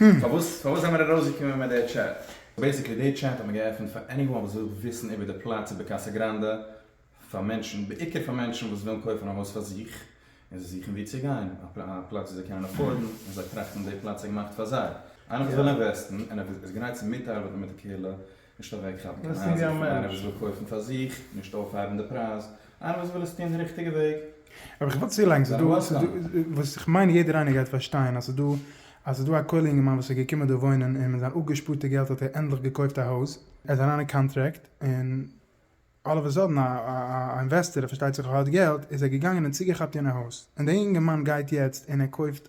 הםמ. פארוואס פארוואס זעמער ארויסגעקומען מיט די טשעט? בעיסיקלי די טשעט האט מען געעפענט פאר עניוואן וואס וויל וויסן איבער די פלאץ איבער קאסא גראנדע פאר מענטשן בעיקר פאר מענטשן וואס ווילן קויפן א הויז פאר זיך און זיי זוכן ווי צו גיין א פלאץ וואס זיי קענען עפארדן און זיי טראכטן די פלאץ איז געמאכט פאר זיי איינער וואס וויל אינוועסטן און ער איז גרייט צו מיטארבעטן מיט די קהילה נישט אוועקכאפן קיין הייזער פון איינער וואס וויל קויפן פאר זיך, נישט אויפהייבן די פרייז, איינער וואס וויל עס טון די ריכטיגע וועג. אבער איך ווארט צו לאנג, ס'איז דא, ס'איז דא, וואס איך מיין יעדער איינער גייט פארשטיין אז ס'איז דא, אז ס'איז דא א כולל אינגערמאן וואס איז געקומען דא וואוינען און מיט זיין אפגעשפארטע געלט האט ער ענדליך געקויפט א הויז, ער איז אריין אין קאנטרעקט, און אלל אוו א סאדען א אינוועסטער, ער פארשטייט זיך ער האט געלט, איז ער געגאנגען און צוגעכאפט יענע הויז, און דער אינגערמאן גייט יעצט און ער קויפט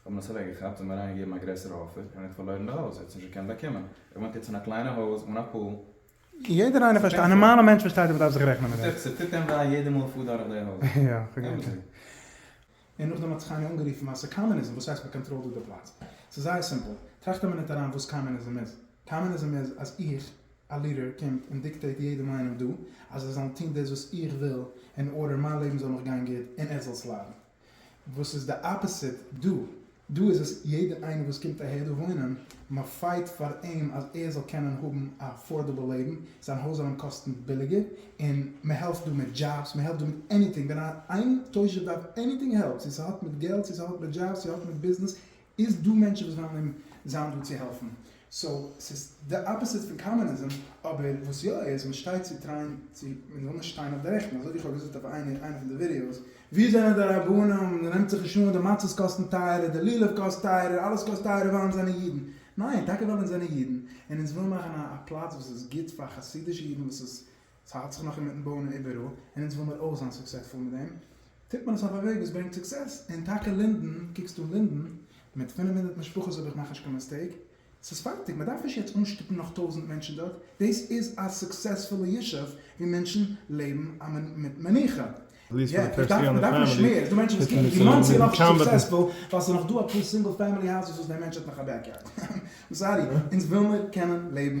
האט מען עס אוועק געכאפט און אריין געגעבן א גרעסערע אפער און ער האט פארלוירן די הויז, ער האט עס נישט געקענט באקומען, ער וואוינט יעצט אין א קליינע הויז אן א פול. יעדער איינער פארשטייט, א נארמאלע מענטש פארשטייט אז מען דארף זיך רעכענען מיט דעם. ס'טוט אים וויי יעדע מאל כ'פאר דורך די הויז. יא, כ'געדענק שוין. און נאכדעם האט זיך איינער אנגערופן אז ס'איז קאמוניזם, וואס הייסט מ'קאנטראלט דא די פלאץ? ס'איז זייער סימפל, טראכט א מינוט אריין וואס קאמוניזם איז. קאמוניזם איז אז איך, א לידער, קומט און דיקטעיט יעדעם איינעם דא אז זיי זאלן טון דאס וואס איך וויל, אין ארדער מיין לעבן זאל מיך גיין גוט און ער זאל סליידן. וואס איז די אפעסיט דא? דא איז עס יעדע איינער וואס קומט אהער דא וואוינען, מען פייט פאר אים אז ער זאל קענען האבן א אפארדעבל לעבן, זיין הויז זאל אים קאסטן ביליגער, און מען העלפט דא מיט דזשאבס, מען העלפט דא מיט עניטינג, ווען איין תושב דארף עניטינג העלפ, צו ס'האט מיט געלט, צו ס'האט מיט דזשאבס, צו האט מיט ביזנעס, איז דא מענטשן וואס וועלן אים זיין דא צו העלפן, סאו ס'איז די אפעסיט פון קאמוניזם, אבער וואס יא איז מען שטייט צו טרייען צו מען זאל נישט שטיין אויף די רעכטן, אזוי ווי כ'האב געזאגט אויף איינע איינע פון די ווידיאוס, ווי זענען די רבנים, מען נעמט זיך נישט אן, די מצות קאסטן טייערער, די לולב קאסט טייערער, אלעס קאסט טייערער ווייל אונז זענען אידן, ניין, טאקע ווייל אונז זענען אידן, און אונז ווילן מאכן א א פלאץ וואס איז גוט פאר חסידישע אידן וואס איז ס'האלט זיך נאך אינמיטן בויען און איבעראל, און אונז ווילמיר אויך זיין סוקסעטפול מיט דעם, טוט מען עס אויף א וועג וואס ברענגט סוקסעס, און טאקע לינדען, קוקסט אן לינדען, מיט פֿינף הונדערט משפחות אויב איך מאך נישט קיין מיסטעיק, ס'איז פארטיג, מ'דארף נישט יעצט אנשטופן נאך טויזענט מענטשן דארט, דאס איז א סוקסעספולע ישוב ווי מענטשן לעבן מיט מנוחה. יא, איך דארף, מ'דארף נישט מער, ס'דא מענטשן וואס קוקן ווי מאנסי איז נאך סוקסעספול, ווייל ס'איז נאך דא אפאר סינגל פעמילי האוזעס וואס דער מענטש האט נאך א בעקיארד, איים סארי, אונז ווילמיר קענען לעבן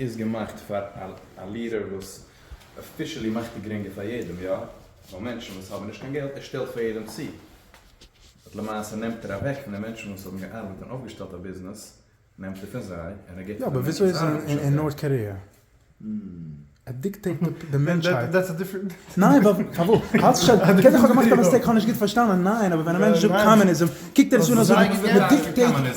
איז געמאכט פאר א לירער וואס אפישעלי מאכט ער גרינגער פאר יעדעם יא ווייל מענטשן וואס האבן נישט קיין געלט ער שטעלט פאר יעדעם צו באט למעשה נעמט ער אוועק פון די מענטשן וואס האבן געארבעט און אויפגעשטעלט א ביזנעס נעמט ער פון זיי און ער געבט פאר די מענטשן וואס ארבעטן שוין דארט.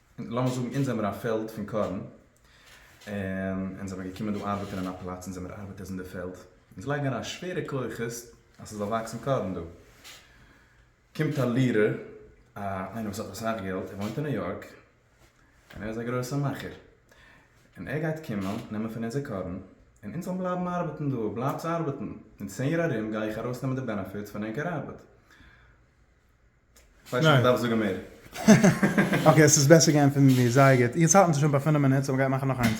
לאמיר זאגן אונז זעמער א פעלד פון קארן, און אונז זעמער געקומען דא ארבעטען אין א פלאץ אונז זעמער ארבעטערס אין די פעלד, אונז לייגן אריין שווערע כוחות אז ס'זאל וואקסן קארן דא, קומט א לירער, א איינער וואס האט אסאך געלט, ער וואוינט אין ניו יארק, און ער איז א גרויסע מאכער, און ער גייט קומען נעמען פון אונזער קארן, און אונז זאלן בלייבן ארבעטן דא, בלייבטס ארבעטן, אין צען יאר ארום גיי איך ארויס נעמען די בענעפיטס פון ענקער ארבעט. כ'ווייס נישט אויב מ'דארף זאגן מער. אקעי עס איז בעסער געענטפערט מיט מיר, זייער גוט. יעצט האלטן זיך שוין ביי פֿינף מינוט, סאו מ'גייט מאכן נאך איינס.